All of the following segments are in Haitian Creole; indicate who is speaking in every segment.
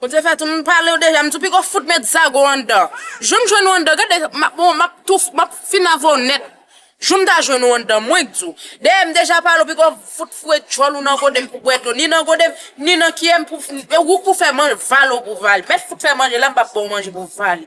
Speaker 1: Ou te fè tou m pale w deja, m tou piko fout met zago anndan. Jou m jwenn ou anndan, gade m ap bon, m ap tou, m ap fin avè w nèt. Jou m ta jwenn ou anndan, mwen k di w. Dèyè m deja pale w piko fout foure djòl ou nan gode m pou bwè dlo, ni nan gode m, ni nan kiyè m pou, e ou k pou fè man, vale ou pou vale. Mèt fout fè manje la m pa pou ba w manje pou vale.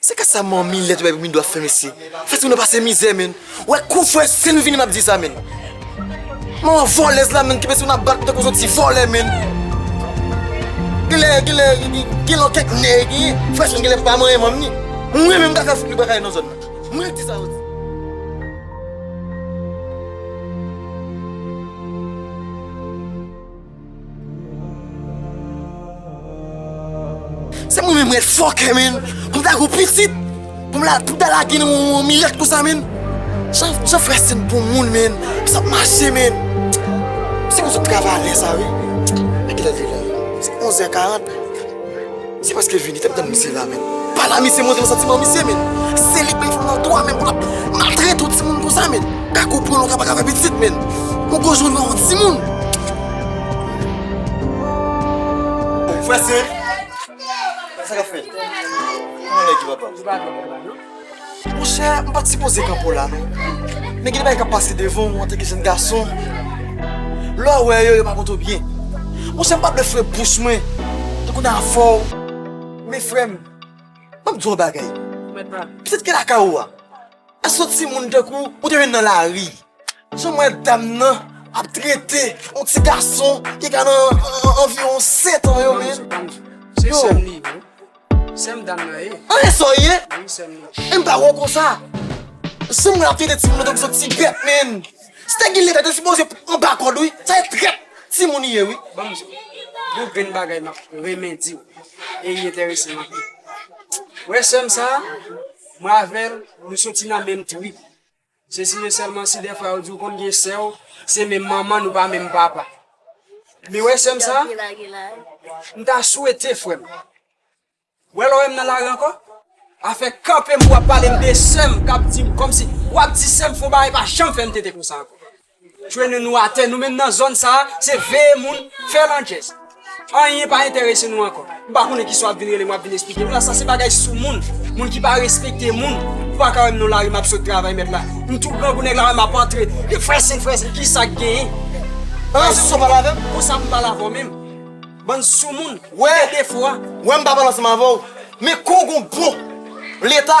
Speaker 2: Se ka sa manmi lèd bay pou midou ap fè mesye Fatima nan pase mizè menn ou wè kou fwè se nou vini map di sa menn Manman vòlèz la menn kibe si nou nan bat tankou son ti vòlè menn Genlè genlè gen lò kèk nè genyen fwè chen genlè pa manyen manmi Mwen menm kaka fout li baka nan zòn nan mwen di sa yo di. Se mwen menm red fòkè menn pou m ta gen yon pitit pou m ta lage nan yon milèt konsa menn Jan frè Sen bon moun menn sa ap mache menn Se konsa m travay alè sa wi Gade lè l rive la Se 11 è 40 Se paske vini tap tann misye la menn. Pala misye montre santiman misye menn. Se li ki fè nan twa menn pou lap maltrete yon timoun konsa menn. Kaka ou pran longa paka fè pitit menn. Ou pran jou nan yon timoun. Frè se. Sa kap fèt. Ou menm ki papa. Mon chè, m pa t sipoze kanpe w la non. Men gen de bagay k ap pase devan w antanke jenn gason. Lè w wè yo, yo pa pote w byen. Mon chè, m pa t vle fre bouch mwen tankou nan afè w. Men frè m, ban m di w yon bagay. Pitit ki lakay ou a, èske yon timoun tankou w ou te jwenn nan lari? Jan m wè dam nan ap trete yon ti gason ki ka nan anviwon setan yo menm. Yo!
Speaker 3: Sèm dam nan ye. An e sa w ye?
Speaker 2: Wi sèm nan. E m pa
Speaker 3: wè w konsa.
Speaker 2: Sim wè w ap trete timoun yo tankou son ti bèt menn. Si te gen leta te sipoze anba kòd wi. Se trèt timoun ye wi. Ban m di w.
Speaker 3: Yon grenn bagay m ap renmen di w e li enterese m anpil. Ou wè sè m sa a? Mwen avè l nou soti nan menm trip. Sesi e selman si defwa yo di ou konn gen sè ou se menm manman nou pa menm papa. Men wè sèm sa, m ta swete frèm. Wè lè w wè m nan lari ankò, afè kanpe m pou w ap pale m de sèm kap di m kòmsi wap di sèm fon bagay pa janm fè m tete konsa ankò. Jwenn nou atè nou menm nan zòn sa a se veye moun, fè landjèz. Anyen pa enterese nou ankò. M pa konnen kisa w ap vin rele m w ap vin esplike m la. Sa se bagay soumoun, moun ki pa respekte moun. Ou pa ka wè m nan lari m ap sot travay mèt la. M tou grangou nèg la wè m ap antre. Li frèsen frèsen ki sa k genyen? An lan soumoun
Speaker 2: pale avè m? Konsa pou m pale avè w menm?
Speaker 3: Bann soumoun, ki gen defo a.
Speaker 2: Wè
Speaker 3: m pa pale ansanm avè
Speaker 2: w men kou w gen yon bon Leta.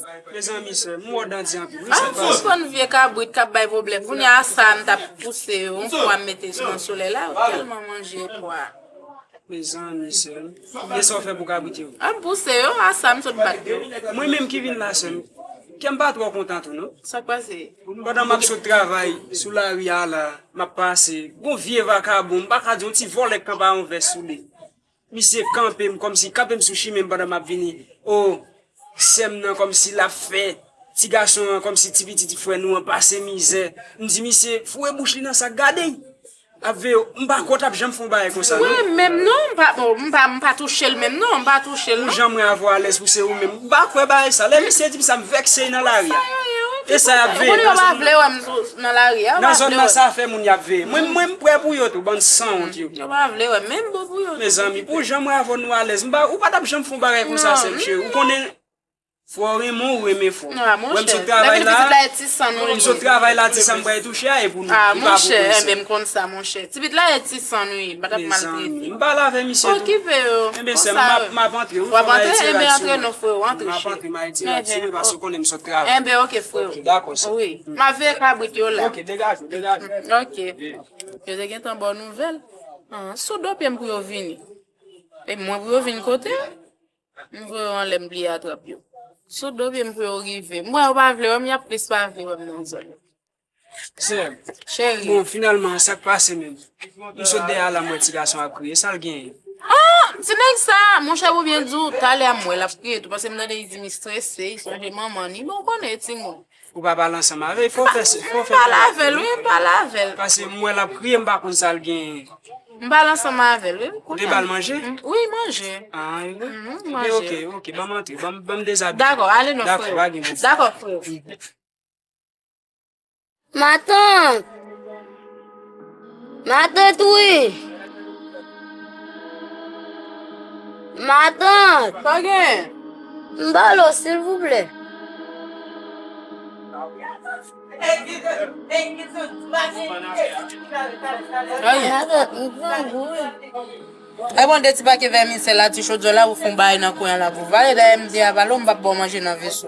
Speaker 1: Mezanmi sè,
Speaker 3: m wè w dandi anpil wi, sa k pase? Sispann vye
Speaker 1: kabrit kap bay pwoblèm. Kounye a sa a m tap pouse yo yon pwa m mete nan solèy la, yo tèlman manje pwa a. Mezanmi
Speaker 3: sè, e sa w fè pou kabrit yo? A m pouse yo, a
Speaker 1: sa a m sot bat yo. Mwen menm ki vin
Speaker 3: la sè m, kè m pa twò kontan tou non. Sa k pase?
Speaker 1: Pandan m ap sot
Speaker 3: travay sou lari a la, m ap pase, gon vye vakabon, m pa ka di yon ti vòlè k kanpe a yon vès sou li. Misye kanpe m kòmsi kanpe m sou chimen m pandan m ap vini o sè m nan kòmsi l ap fè ti gason an kòmsi ti pitit frè nou an pase mizè m di misye foure bouch li nan sak gade y ap veye w m pa kwè w t ap janm fè yon bagay konsa non. Mwen menm non
Speaker 1: m pa touche l menm non m pa touche l non. Pou jan mwen avè w alèz pou se
Speaker 3: ou menm. M pa kwè bagay sa. Lè misye di m sa m vèkse nan lari a. E sa y ap veye nan zòn
Speaker 1: nan. Nan zòn nan sa fè moun
Speaker 3: y ap veye. Mwen m prè pou yo tou bann sanwont yo.
Speaker 1: Mezanmi pou jan mwen
Speaker 3: avè w nou alèz. Ou pa t ap janm fè yon bagay konsa sèm cheri. Ou konnen fò w renmen w renmen fò. Wè m sot travay
Speaker 1: la a.
Speaker 3: M sot
Speaker 1: travay la ti sa m
Speaker 3: bay touche a e pou nou. Li pa pou
Speaker 1: mwen sèm. Tipit la e ti san wi, pa tap maltrete.
Speaker 3: Oh ki pe yo,
Speaker 1: konsa
Speaker 3: yo. Wap antre, enben
Speaker 1: antre non freo, antre
Speaker 3: cheri. Enben ok freo,
Speaker 1: wi.
Speaker 3: Map veye
Speaker 1: kabrit yo la.
Speaker 3: Ok.
Speaker 1: Yo te gentan baw nouvèl. Sou do pyem pou yo vini. E mwen pou yo vin kote? M voye yo anlè m bliye atrap yo. Sou do pyem pou yo rive. M wè yo pa vle wèm, yap plis pa vle wèm nan zòn.
Speaker 3: Sè, bon,
Speaker 1: finalman, sa k
Speaker 3: pase menm? M sot dèyè a la m wè ti gason an ap kriye. Sa l genyen? An! Ti nèg
Speaker 1: sa a! Monchè pou byen di w, talè a m wè l ap kriye tou paske m tande li di li strese, li sonje manman li. Men w konnen, ti moun. Ou pa pale ansanm
Speaker 3: avè l? Fò w fè sa. M pale avè l,
Speaker 1: wi. M pale avè l. Paske m wè l ap kriye,
Speaker 3: m pa konn sa l genyen. M pale ansanm
Speaker 1: avè l, wi. M konnen. Ou te ba l manje?
Speaker 3: Wi, manje.
Speaker 1: An, e wi.
Speaker 3: M manje. Ebyen, oke,
Speaker 1: oke. Ban m antre.
Speaker 3: Ban m dezabiye. Dakò, ale non, freo. Dakò,
Speaker 1: pa gen pwoblèm. Dakò,
Speaker 3: freo.
Speaker 4: Matant! Matant wi! Matant! Sa gen?
Speaker 1: M ba w lo
Speaker 4: silvouplè. Matant, m grangou
Speaker 1: wi. Lè bon de ti pake vèmisèl la, ti chodyò la, ou fon bagay nan kwen an la pou vale. Dayè m di Avalo m p ap ba w manje nan veso.